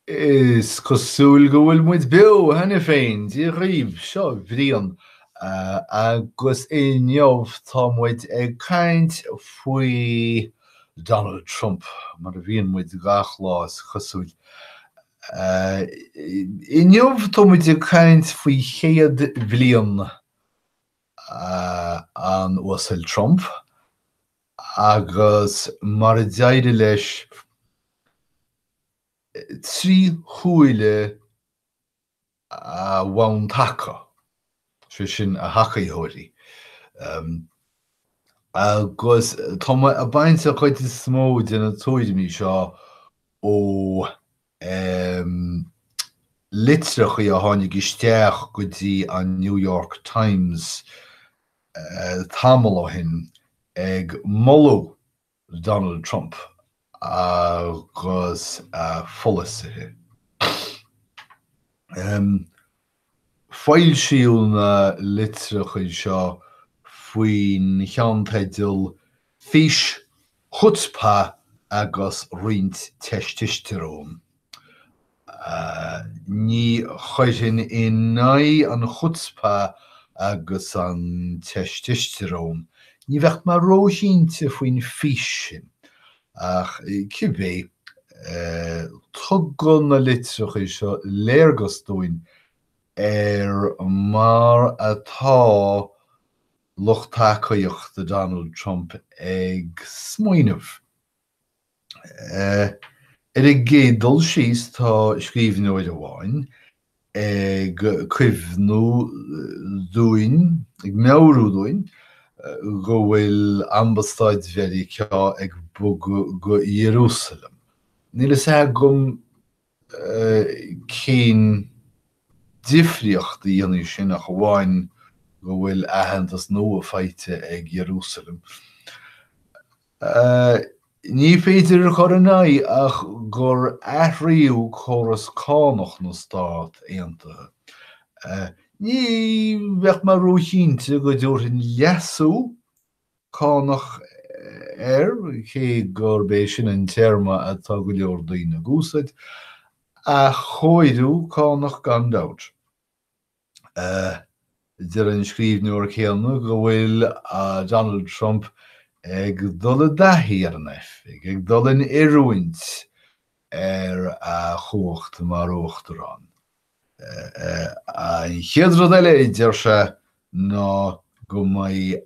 Is cosúil go bhfuil muid beo cheana féin, Dia dhaoibh, seo Brian agus inniu tá muid ag caint faoi Donald Trump, mar a bhíonn muid gach lá is cosúil. Inniu tá muid ag caint faoi chéad bhliain an Uasail Trump, agus mar a d'éirigh leis trí shúile a bhonn taca, sé sin, a thacaitheoirí. Agus tá mé ag baint an chuid is mó de na tuairimí seo ó. um litreachaí a tháinig isteach go dtí an New York Times tamall ó shin ag moladh Donald Trump agus a pholasaithe. Foilsíodh na litreachaí seo faoin cheannteideal Fís, Chutzpah agus Roinnt Téististéaróin. Ní chuirfinn in aghaidh an Chutzpah agus an Téististéarón, ní bheadh mé róchinnte faoin Fís sin, Ach cibé, tugann na litreacha seo léargas dúinn ar mar atá lucht tacaíochta Donald Trump ag smaoineamh. Ar an gcéad dul síos, tá scríbhneoir amháin ag cuimhniú dúinn, ag meabhrú dúinn, go bhfuil Ambasáid Mheiriceá ag bogadh go Iarúsaileim. Níl a fhios agam cén difríocht a dhéanfaidh sin ach amháin go bhfuil aitheantas nua faighte ag Iarúsaileim. Ní féidir a chur in aghaidh ach gur athraíodh córas cánach na Stát Aontaithe. Ní bheadh mé róchinnte go dtabharfainn leasú cánach air, cé gurb é sin an téarma atá go leor daoine ag úsáid, ach cóiriú cánach gan dabht. Deir an scríbhneoir céanna go bhfuil Donald Trump ag dul i dtaithí ar an oifig, ag dul in oiriúint ar a chumhacht mar uachtarán. An chéad rud eile a deir sé ná go mbeidh,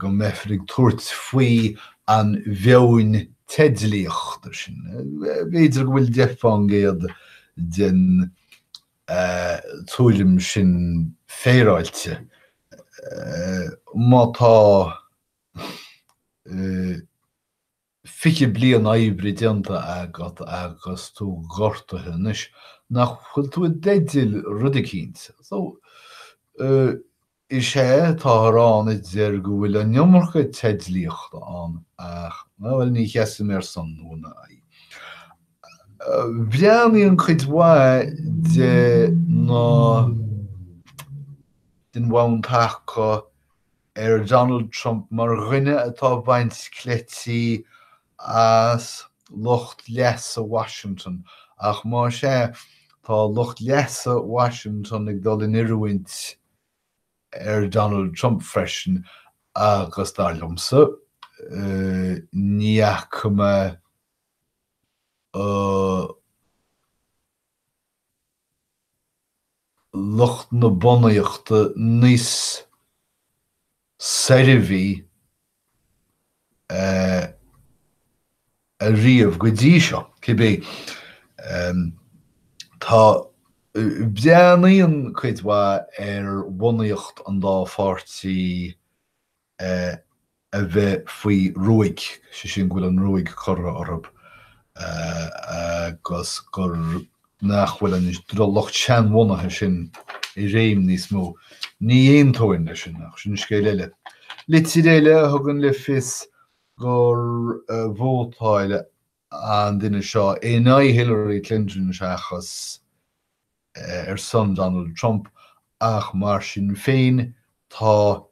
go mbeifear ag tabhairt faoin mheon teidlíochta sin, b'fhéidir go bhfuil deich fán gcéad den tuairim sin féaráilte, má tá 20 bliain oibre déanta agat agus tú gortaithe anois, nach bhfuil tú i dteideal rud eicínt. Is ea, táthar ann a deir go bhfuil an iomarca teidlíochta ann ach, bhuel, ní sheasaim ar son nó in aghaidh. Breathnaíonn cuid mhaith de na, den bhonn taca ar Donald Trump mar dhuine atá ag baint cleití as lucht leasa Washington ach más ea, tá lucht leasa Washington ag dul in oiriúint ar Donald Trump freisin agus dar liomsa, ní fhaca mé lucht na bunaíochta níos soirbhe ariamh go dtí seo, cibé. Tá, breathnaíonn cuid mhaith ar bhunaíocht an dá pháirtí a bheith faoi ruaig, sé sin go bhfuil an ruaig curtha orthub agus gur. nach bhfuil an lucht seanbhunaithe sin i réim níos mó. Ní aontóinn leis sin, ach sin scéal eile. Litir eile a thugann le fios gur vótáil an duine seo in aghaidh Hillary Clinton seachas ar son Donald Trump, ach mar sin féin tá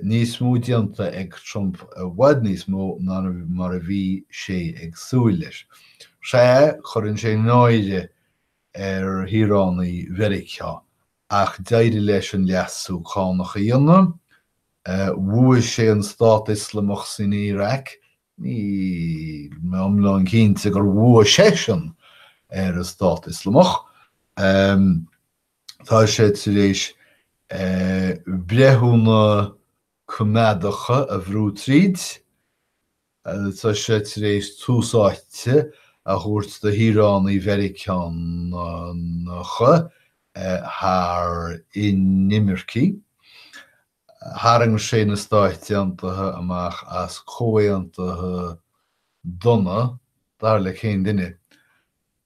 níos mó déanta ag Trump, i bhfad níos mó ná mar a bhí sé ag súil leis. Sea, cuireann sé náire ar shaoránaigh Mheiriceá, ach d'éirigh leis an leasú cánach a dhéanamh, bhuaigh sé ar an Stát Ioslamach san Iaráic, níl mé iomlán cinnte gur bhuaigh seisean ar an Stát Ioslamach, Tá sé tar éis breithiúna coimeádacha a bhrú tríd, agus tá sé tar éis tús áite a thabhairt do shaoránaigh Mheiriceá thar inimircigh. Tharraing sé na Stáit Aontaithe amach as comhaontuithe dona, dar le cén duine.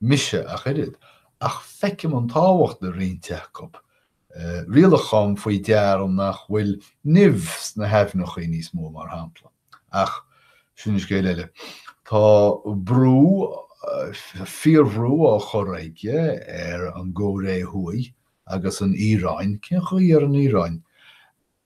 mise ach oiread, ach feicim an tábhacht le roinnt acu. Rialacháin faoi deara nach bhfuil nimh sna haibhneacha níos mó mar shampla. Ach sin scéal eile. Tá brú, fíorbhrú á chur aige ar an gCóiré Thuaidh agus ar an Iaráin, cén chaoi ar an Iaráin?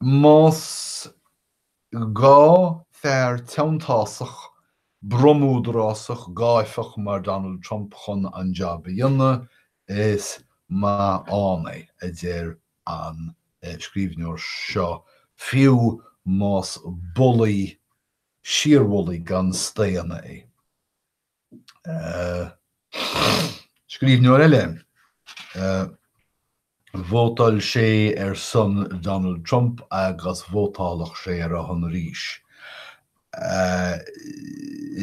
Más gá fear teanntásach, bromúdarásach, gáifeach mar Donald Trump chun an jab a dhéanamh, is maith ann é, a deir an scríbhneoir seo, fiú más bulaí, síorbhulaí gan staonadh é. Scríbhneoir eile, vótáil sé ar son Donald Trump agus vótálfadh sé ar a shon arís.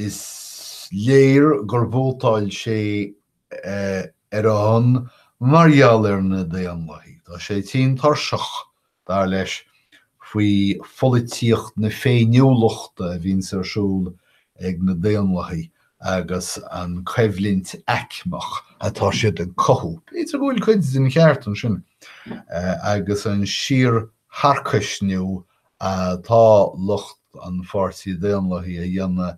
Is léir gur vótáil sé ar a shon mar gheall ar na Daonlathaigh. Tá sé tinn tuirseach Dar leis, faoi pholaitíocht na féiniúlachta a bhíonns ar siúl ag na Daonlathaigh agus an coimhlint aicmeach atá siad ag cothú, b'fhéidir go bhfuil cuid den cheart ansin, agus an síortharcaisniú atá lucht an Pháirtí Daonlathaigh a dhéanamh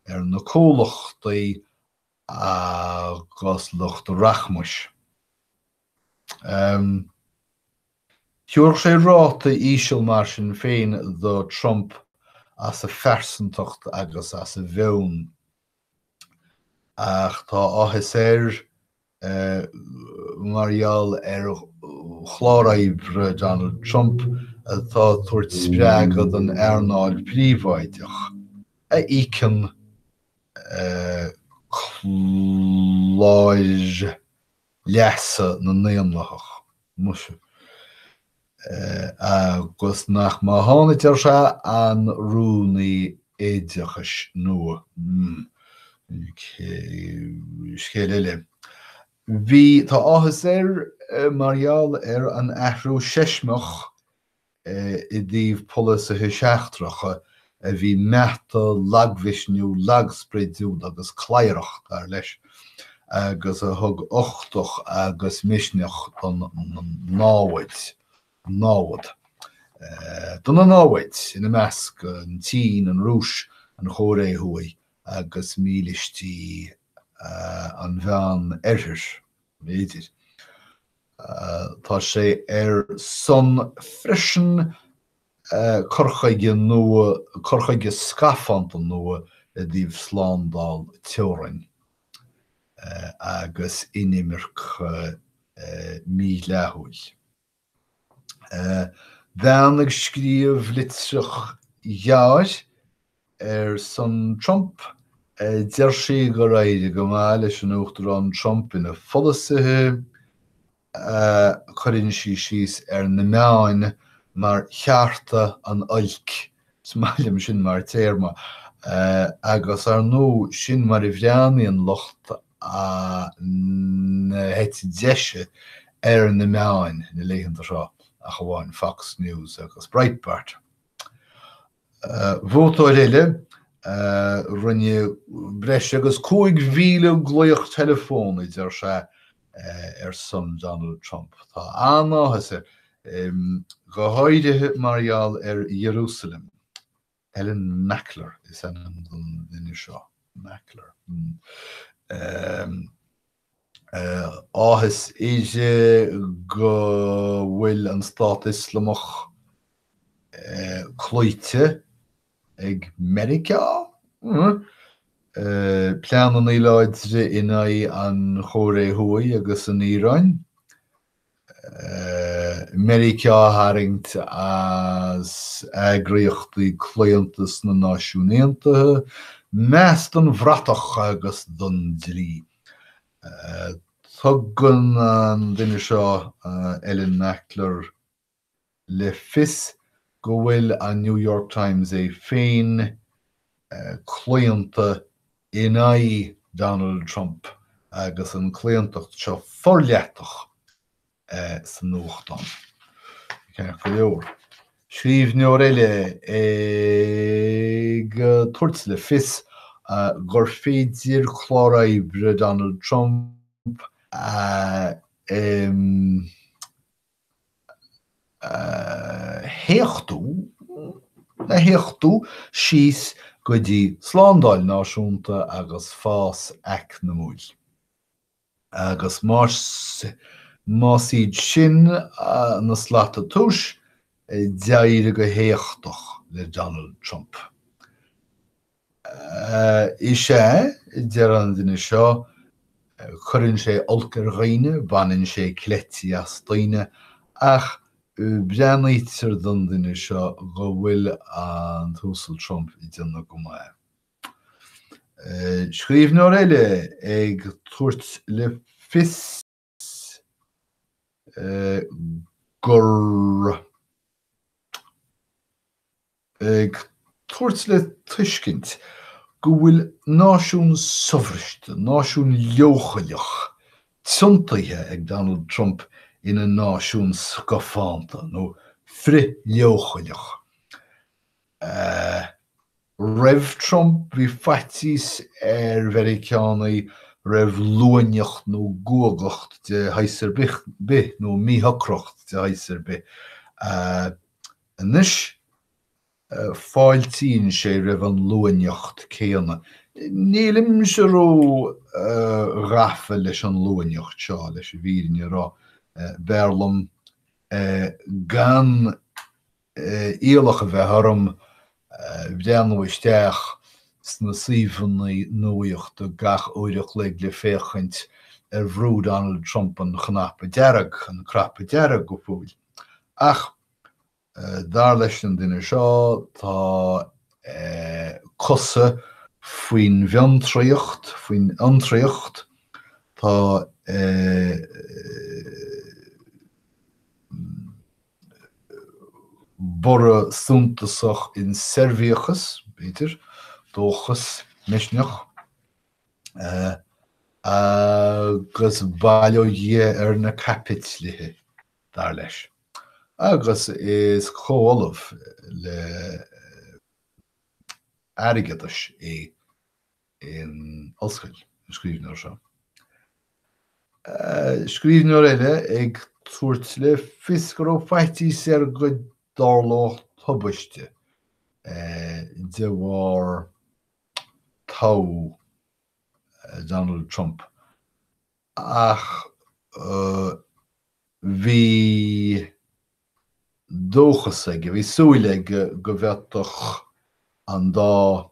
ar na comhlachtaí agus lucht an rachmais. Thiúrfadh sé ráta íseal mar sin féin do Trump as a phearsantacht agus as a mheon. Ach tá áthas air mar gheall ar chlár oibre Donald Trump atá ag tabhairt spreagadh don earnáil phríobháideach, a íocann cláir leasa na nDaonlathaithe, muise, agus nach maith a tháinig, ar sé, an Rúnaí Oideachais nua, scéal eile. Bhí, tá áthas air mar gheall ar an athrú seismeach é i dtaobh polasaithe seachtracha a bhí meata, lagmhisniúil, lagspridiúil agus cladharach, dar leis, agus a thug uchtach agus misneach don námhaid, námhad, do na naimhde, ina measc, an tSín, an Rúis, an Chóiré Thuaidh agus mílístí an Mheán-Oirthir. mb'fhéidir. Tá sé ar son freisin cur chuige nua, cur chuige scafánta nua i dtaobh slándáil teorainn agus inimirce mhídhleathúil. Bean ag scríobh litreach ghearr ar son Trump, deir sí gur éirigh go maith leis an Uachtarán Trump ina pholasaithe, chuireann sí síos ar na meáin mar cheárta an oilc, is maith liom sin mar téarma, agus ar ndóigh sin mar a bhreathnaíonn an lucht na heite deise ar na meáin na laethanta seo ach amháin Fox News agus Breitbart. Vótóir eile, rinne breis agus 5,000 glaoch teileafón, a deir sé, ar son Donald Trump. Tá an-áthas air, go háirithe mar gheall ar Iarúsailéim. Ellen Mackler is ainm don duine seo. Mackler, hm. Áthas uirthi go bhfuil an Stát Ioslamach cloíte ag Meiriceá? Pleananna láidre in aghaidh an Chóiré Thuaidh agus an Iaráin? Meiriceá a tharraingt as eagraíochtaí claonta sna Náisiúin Aontaithe, meas don bhratach agus don dlí. Tugann an duine seo, Ellen Mackler, le fios go bhfuil an New York Times é féin claonta in aghaidh Donald Trump agus an chlaontacht seo forleitheadach sa nuachtán. Ceart go leor, scríbhneoir eile ag tabhairt le fios gur féidir clár oibre Donald Trump a. téachtadh, a théachtadh síos go dtí slándáil náisiúnta agus fás eacnamúil. Agus más iad sin na slata tomhais, d'éirigh go héachtach le Donald Trump. Is ea, deir an duine seo, cuireann sé olc ar dhaoine, baineann sé cleití as daoine, ach breathnaítear don duine seo go bhfuil an tUasal Trump ag déanamh go maith. Scríbhneoir eile ag tabhairt le fios. gur ag tabhairt le tuiscint go bhfuil náisiún sobhriste, náisiún leochaileach, tiontaithe ag Donald Trump ina náisiún scafánta nó frith-leochaileach. Roimh Trump, bhí faitíos ar Mheiriceánaigh roimh luaineacht nó guagacht de shaghas ar bith, nó míshocracht de shaghas ar bith. Anois, fáiltíonn sé roimh an luaineacht céanna. Nílimse ró ghafa leis an luaineacht seo, leis an bhfírinne a rá. B'fhearr liom gan iallach a bheith orm breathnú isteach sna suíomhanna nuaíochta gach uair an chloig le féachaint ar bhrú Donald Trump an cnaipe dearg, an cnaipe dearg go fóill. Ach dar leis an duine seo tá cosa faoin bhfiontraíocht, faoin fhiontraíocht, tá borradh suntasach in soirbhíochas, b'fhéidir, dóchas, misneach, agus bail ó Dhia ar na caipitlithe, dar leis. Agus is comhollamh le Airgeadais é. in ollscoil, an scríbhneoir seo. Scríbhneoir eile ag tabhairt le fios go raibh faitíos air go dtarlódh tubaiste de bharr toghadh Donald Trump, ach bhí dóchas aige, bhí súil aige go bhféadfadh an dá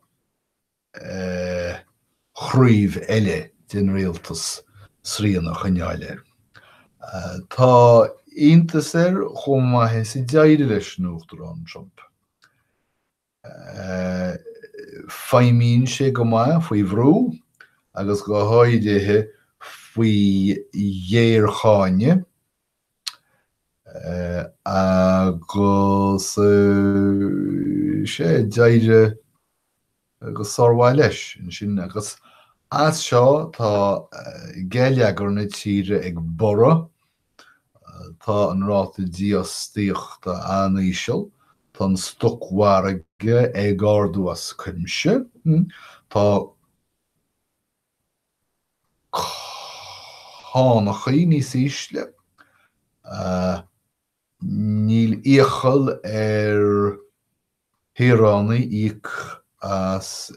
chraobh eile den rialtas srian a choinneáil air. Tá iontas air chomh maith is a d'éirigh leis an Uachtarán Trump. Feidhmíonn sé go maith faoi bhrú, agus go háirithe faoi ghéarcháineadh. Agus sé, d'éirigh go sármhaith leis ansin, agus as seo tá geilleagar na tíre ag borradh, tá an ráta dífhostaíochta an-íseal, tá an stocmhargadh ag ardú as cuimse, tá. cánachaí níos ísle. Níl iachall ar shaoránaigh íoc as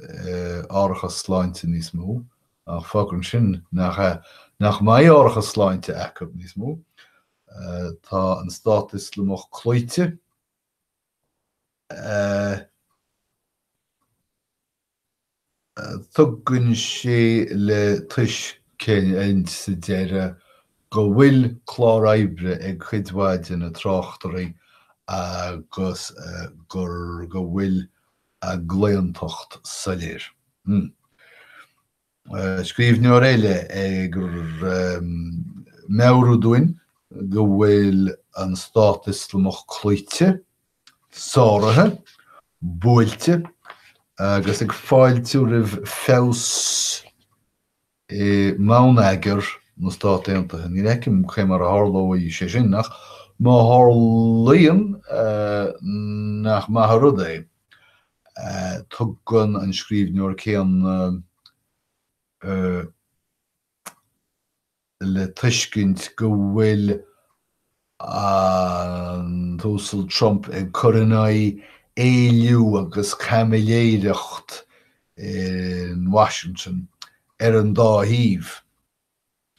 árachas sláinte níos mó, ach fágann sin nach, nach mbeidh árachas sláinte acu níos mó. Tá an Stát Ioslamach cloíte. Tugann sé le tuiscint sa deireadh go bhfuil clár oibre ag cuid mhaith de na tráchtairí agus gur go bhfuil a gclaontacht soiléir. scríbhneoir eile ag meabhrú dúinn go bhfuil an Stát Ioslamach cloíte, sáraithe, buailte agus ag fáiltiú roimh feabhas i mbonneagar na Stát Aontaithe. Ní fheicim cé mar a tharlóidh sé sin, ach má tharlaíonn, nach maith an rud é. Tugann an scríbhneoir céanna le tuiscint go bhfuil an tUasal Trump ag cur in aghaidh éilliú agus caimiléireacht in Washington ar an dá thaobh.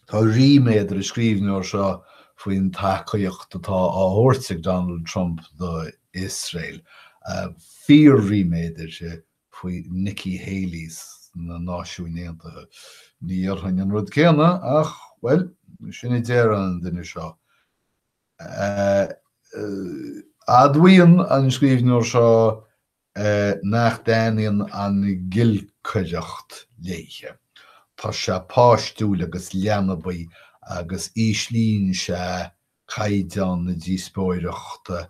Tá ríméad ar an scríbhneoir seo faoin tacaíocht atá á thabhairt ag Donald Trump do Iosrael. Fíor-ríméad uirthi faoi Nikki Haley sna Náisiúin Aontaithe. Ní dhéarfainn an rud céanna ach, bhuel, sin é a deir an duine seo. Admhaíonn an scríbhneoir seo nach dtaitníonn an ngiolcaireacht léithe. Tá sé páistiúil agus leanbaí agus íslíonn sé caighdeán na díospóireachta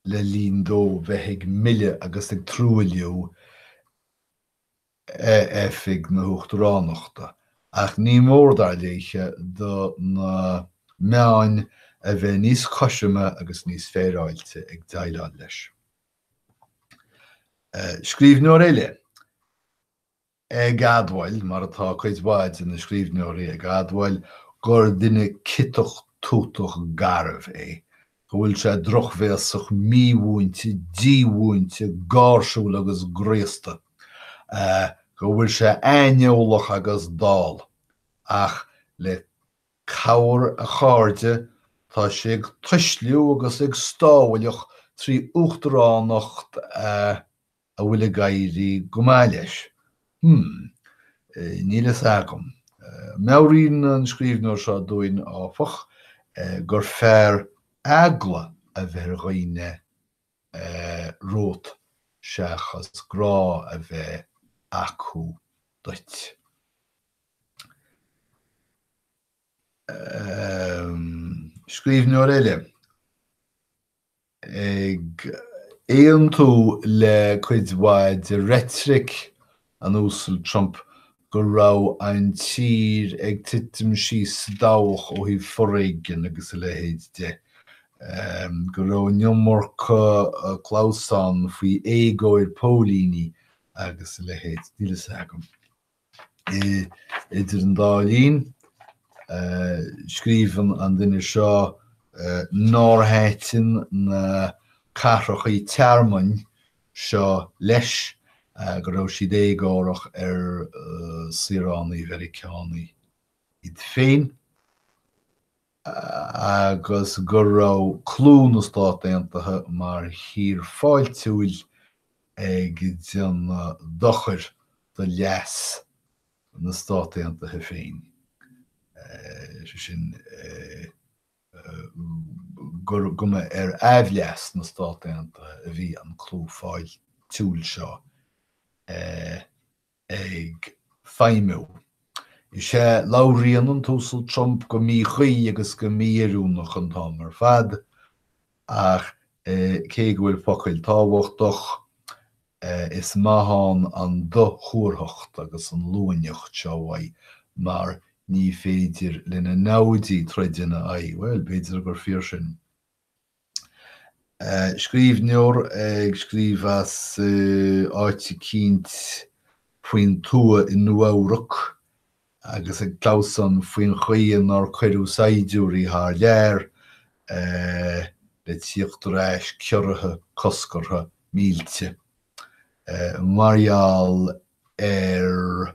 le linn dó bheith ag milleadh agus ag truailliú Oifig na hUachtaránachta, ach ní mór, dar léithe, do na meáin a bheith níos cothroime agus níos féaráilte ag déileáil leis. Scríbhneoir eile ag admháil, mar atá cuid mhaith de na scríbhneoirí ag admháil, gur duine ciotach tútach garbh é, go bhfuil sé drochbhéasach, mímhúinte, dímhúinte, gáirsiúil agus graosta, go bhfuil sé aineolach agus dall, ach le cabhair a chairde tá sé ag tuisliú agus ag stámhailligh trí uachtaránacht a. a bhfuil ag éirí go maith leis? Hmm. Níl fhios agam. Meabhraíonn an scríbhneoir seo dúinn, áfach, gur fearr eagla a bheith ar dhaoine romhat seachas grá a bheith acu duit. Scríbhneoir eile. ag aontú le cuid mhaith de reitric an Uasail Trump go raibh an tír ag titim síos sa dabhach ó thaobh foréigin agus a leithéid de, go raibh an iomarca clamhsán faoi éagóir póilíní agus a leithéid. Níl fhios agam. Idir an dá linn, scríobhann an duine seo nár thaitin na cathracha tearmainn seo leis, go raibh siad éagórach ar shaoránaigh Mheiriceánaigh iad féin. agus go raibh clú na Stát Aontaithe mar thír fháiltiúil ag déanamh dochair do leas na Stát Aontaithe féin, is é sin, go mba ar aimhleas na Stát Aontaithe a bhí an clú fáiltiúil seo. ag feidhmiú. Is ea, labhraíonn an tUasal Trump go míchuí agus go mí-oiriúnach an t-am ar fad, ach cé go bhfuil focail tábhachtach, is maith ann an dothuarthacht agus an luaineacht seo uaidh, mar ní féidir lena namhaidí troid ina aghaidh. Bhuel, b'fhéidir gur fíor sin. Scríbhneoir ag scríobh as áit eicínt faoin tuath i Nua-Eabhrac agus ag clamhsán faoin chaoi nár cuireadh saighdiúirí thar lear le tíocht ar ais, ciorraithe, coscartha, millte. Mar gheall ar.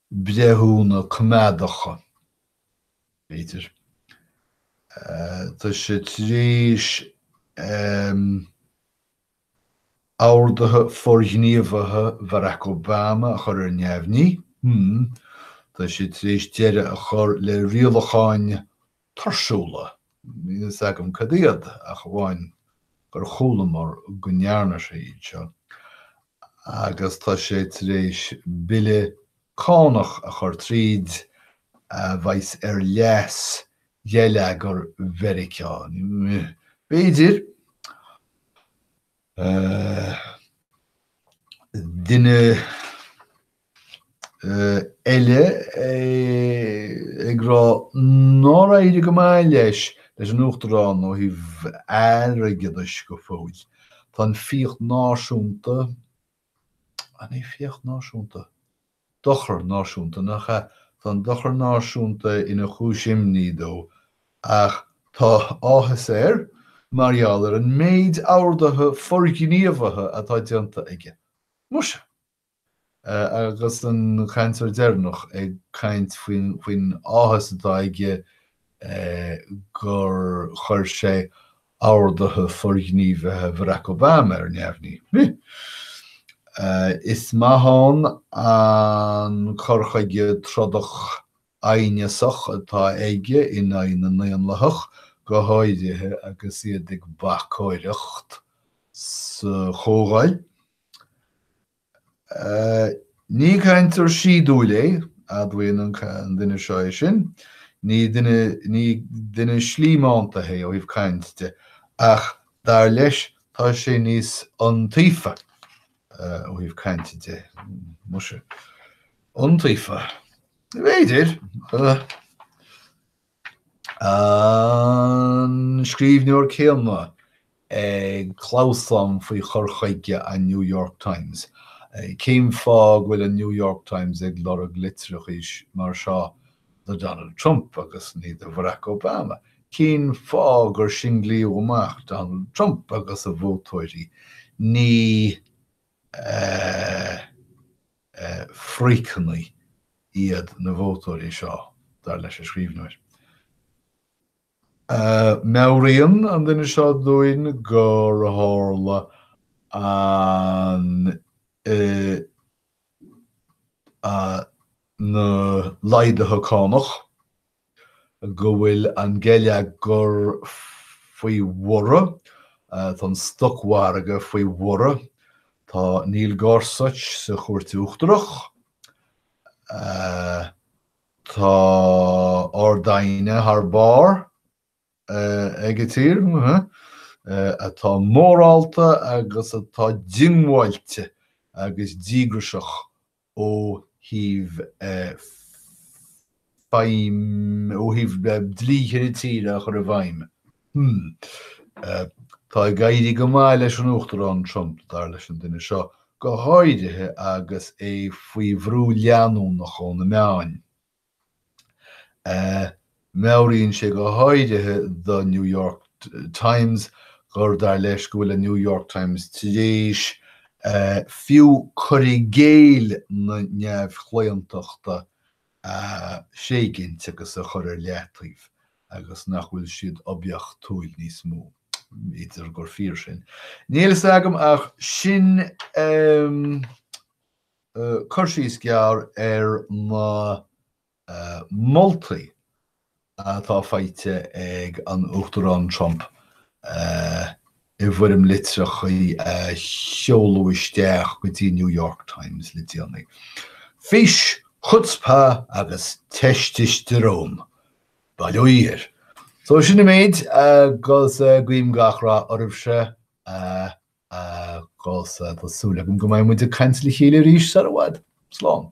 breithiúna coimeádacha, b'fhéidir. Tá sé tar éis orduithe forghníomhaithe Bharack Obama a chur ar neamhní. Tá sé tar éis deireadh a chur le rialacháin tuirsiúla, níl a fhios agam cad iad ach amháin gur chualamar go ndearna sé iad seo, agus tá sé tar éis bille cánach a chur tríd a bheas ar leas gheilleagar Mheiriceá. B'fhéidir duine. eile ag rá nár éirigh go maith leis leis an Uachtarán ó thaobh airgeadais go fóill. Tá an fiach náisiúnta, an é fiach náisiúnta? dochar náisiúnta, nach ea? tá an dochar náisiúnta ina chúis imní dó ach tá áthas air mar gheall ar an méid orduithe forghníomhaithe atá déanta aige. Muise. Agus an cainteoir deireanach ag caint faoin áthas atá aige gur chuir sé orduithe forghníomhaithe Bharack Obama ar neamhní, is maith ann an cur chuige trodach aighneasach atá aige in aghaidh na nDaonlathach, go háirithe agus iad ag bacóireacht sa Chomhdháil. Ní cainteoir síodúil é, admhaíonn an duine seo é sin. Ní duine, ní duine slímeánta é ó thaobh caint de, ach dar leis tá sé níos iontaofa ó thaobh cainte de. Muise. Iontaofa. B'fhéidir. an scríbhneoir céanna ag clamhsán faoi chur chuige an New York Times. Cén fáth go bhfuil an New York Times ag lorg litreacha mar seo do Donald Trump agus ní do Bharack Obama? Cén fáth gur singlaíodh amach Donald Trump agus a vótóirí, ní. frithghníomhaigh iad na vótóirí seo, dar leis an scríbhneoir. Meabhraíonn an duine seo dúinn gur tharla an, na laghduithe cánach, go bhfuil an geilleagar faoi bhorradh, tá an stocmhargadh faoi bhorradh, tá Neil Gorsuch sa Chúirt Uachtarach, tá Ard-Aighne thar barr. ag tír atá mórálta agus atá diongbháilte agus díograiseach ó thaobh dlíthe na tíre a chur i bhfeidhm. Tá ag éirí go maith leis an Uachtarán Trump, dar leis an duine seo, go háirithe agus é faoi bhrú leanúnach ó na meáin. Meabhraíonn sé go háirithe don New York Times gur dar leis go bhfuil an New York Times tar éis fiú cur i gcéill na neamhchlaontachta a thréigint agus a chur ar leataobh agus nach bhfuil siad oibiachtúil níos mó. B'fhéidir gur fíor sin. Níl a fhios agam ach sin. e Cur síos gearr ar na moltaí atá faighte ag an Uachtarán Trump i bhfoirm litreacha a seoladh isteach go dtí an New York Times le déanaí. Fís, chutzpah agus teististirón! by the way. So sin an méid agus guím gach rath oraibhse. Agus tá súil agam go mbeidh muid ag caint le chéile arís sar i bhfad. Slán.